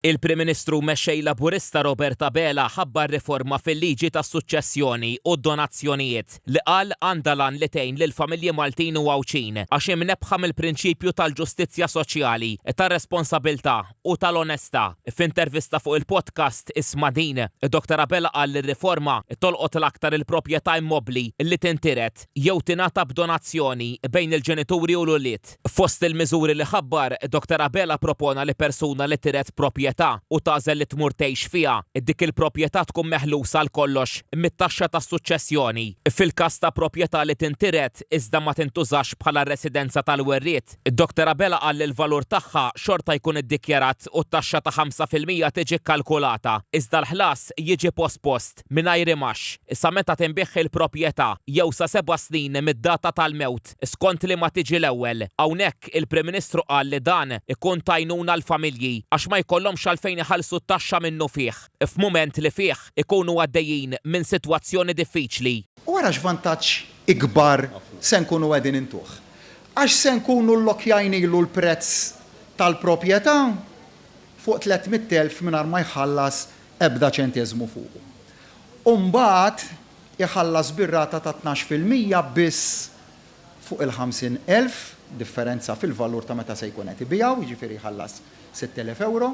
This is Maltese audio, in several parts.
Il-Prim Ministru u Mexxej Laburista Robert Abela ħabbar riforma fil-liġi tas-suċċessjoni u d-donazzjonijiet li qal għandha l-għan li tgħin lill-familji Maltin u Għawdxin għax hi mnebbħa mill-prinċipju tal-ġustizzja soċjali, tar-responsabilità u tal-onestà. F'intervista fuq il-podcast Isma' Din, Dr Abela qal li r-riforma tolqot l-aktar il-proprjetà immobbli li tintiret jew tingħata b'donazzjoni bejn il-ġenituri u l-ulied. Fost il-miżuri li ħabbar, Doktor Abela ppropona li persuna li tiret proprjetà u tagħżel li tmur tgħix fiha, dik il-proprjetà tkun meħlusa għal kollox mit-taxxa tas-suċċessjoni. Fil-każ ta' proprjetà li tintiret iżda ma tintużax bħala residenza tal-werriet, Doktor Abela qal li l-valur tagħha xorta jkun iddikjarat u t-taxxa ta' ħamsa fil-mija tiġi kkalkulata, iżda l-ħlas jiġi pospost, mingħajr imgħax, sa meta tinbiegħ il-proprjetà jew sa seba' snin mid-data tal-mewt. l-effett, skont liema tiġi l-ewwel. Hawnhekk, il-Prim Ministru qal li dan ikun t'għajnuna għall-familji għax ma jkollhomx għalfejn iħallsu t-taxxa minnufih f'mument li fih ikunu għaddejjin minn sitwazzjoni diffiċli. U ara x'vantaġġ ikbar se nkunu qegħdin intuh. Għax se nkunu llokkjajnilu l-prezz tal-proprjetà fuq tlett mitt elf mingħajr ma jħallas ebda ċenteżmu fuqu. U mbagħad, iħallas bir-rata ta' tnax fil-mija biss fuq il-ħamsin elf, differenza fil-valur ta' meta se jkun qed ibiegħu, jiġifieri jħallas sitt elef ewro,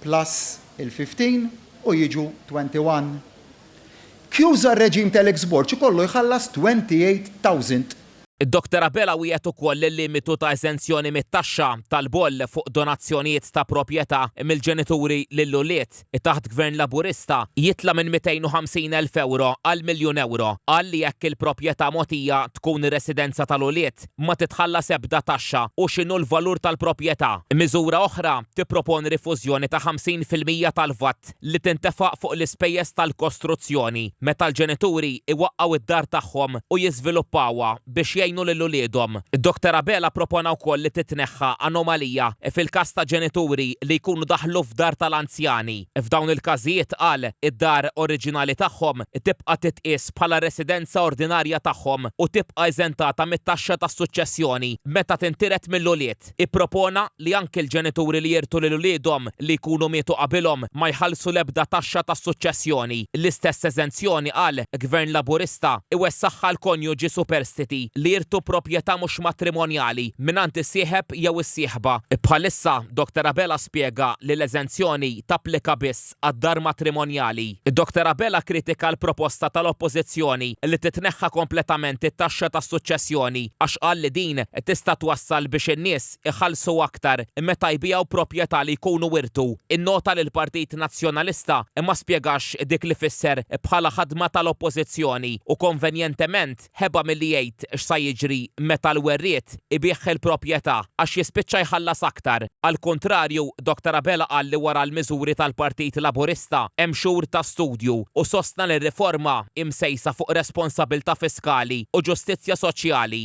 plus il-fifteen u jiġu twenty one. Kjuża r-reġim tal-Exborg ikollu jħallas twenty eight thousand Id-Doktor Abela wiegħed ukoll il-limitu ta' eżenzjoni mit-taxxa tal-boll fuq donazzjonijiet ta' proprjetà mill-ġenituri lill-ulied, taħt Gvern Laburista, jitla' minn 250 elf ewro għal miljun ewro. Qal li jekk il-proprjetà mogħtija tkun ir-residenza tal-ulied, ma titħallas ebda taxxa u x'inhu l-valur tal-proprjetà. Miżura oħra tipproponi rifużjoni ta' 50 fil-mija tal-VAT li tintefaq fuq l-ispejjeż tal-kostruzzjoni meta l-ġenituri jwaqqgħu d-dar tagħhom u jiżviluppawha biex jgħinu lil uliedhom. Doktor Abela ppropona wkoll li titneħħa anomalija fil-każ ta' ġenituri li jkunu daħlu f'dar tal-anzjani. F'dawn il-każijiet, qal, id-dar oriġinali tagħhom tibqa' titqies bħala r-residenza ordinarja tagħhom u tibqa' eżentata mit-taxxa tas-suċċessjoni meta tintiret mill-ulied. Act ippropona li anki l-ġenituri li jirtu lil uliedhom li jkunu mietu qabilhom ma jħallsu l-ebda taxxa tas-suċċessjoni. L-istess eżenzjoni, qal, Gvern Laburista, iwessagħha għal konjuġi superstiti li jirtu proprjetà mhux matrimonjali mingħand is-sieħeb jew is-sieħba. Bħalissa, Doctor Abela spjega li l-eżenzjoni tapplika biss għad-dar matrimonjali. Dr Abela kkritika l-proposta tal-Oppożizzjoni li titneħħa kompletament it-taxxa tas-suċċessjoni għax qal li din tista' twassal biex in-nies iħallsu aktar meta jbigħu proprjetà li jkunu wirtu. Innota li l-Partit Nazzjonalista ma spjegax dik li fisser bħala ħadma tal-Oppożizzjoni u konvenjentement, ħeba milli jgħid x'sa jiġri meta l-werriet ibigħ il-propjetà għax jispiċċa jħallas aktar. Għall-kuntrarju, Dott. Abela qal li wara l-miżuri tal-Partit Laburista hemm xhur ta' studju u sostna li r-riforma hi msejsa fuq responsabilità fiskali u ġustizzja soċjali.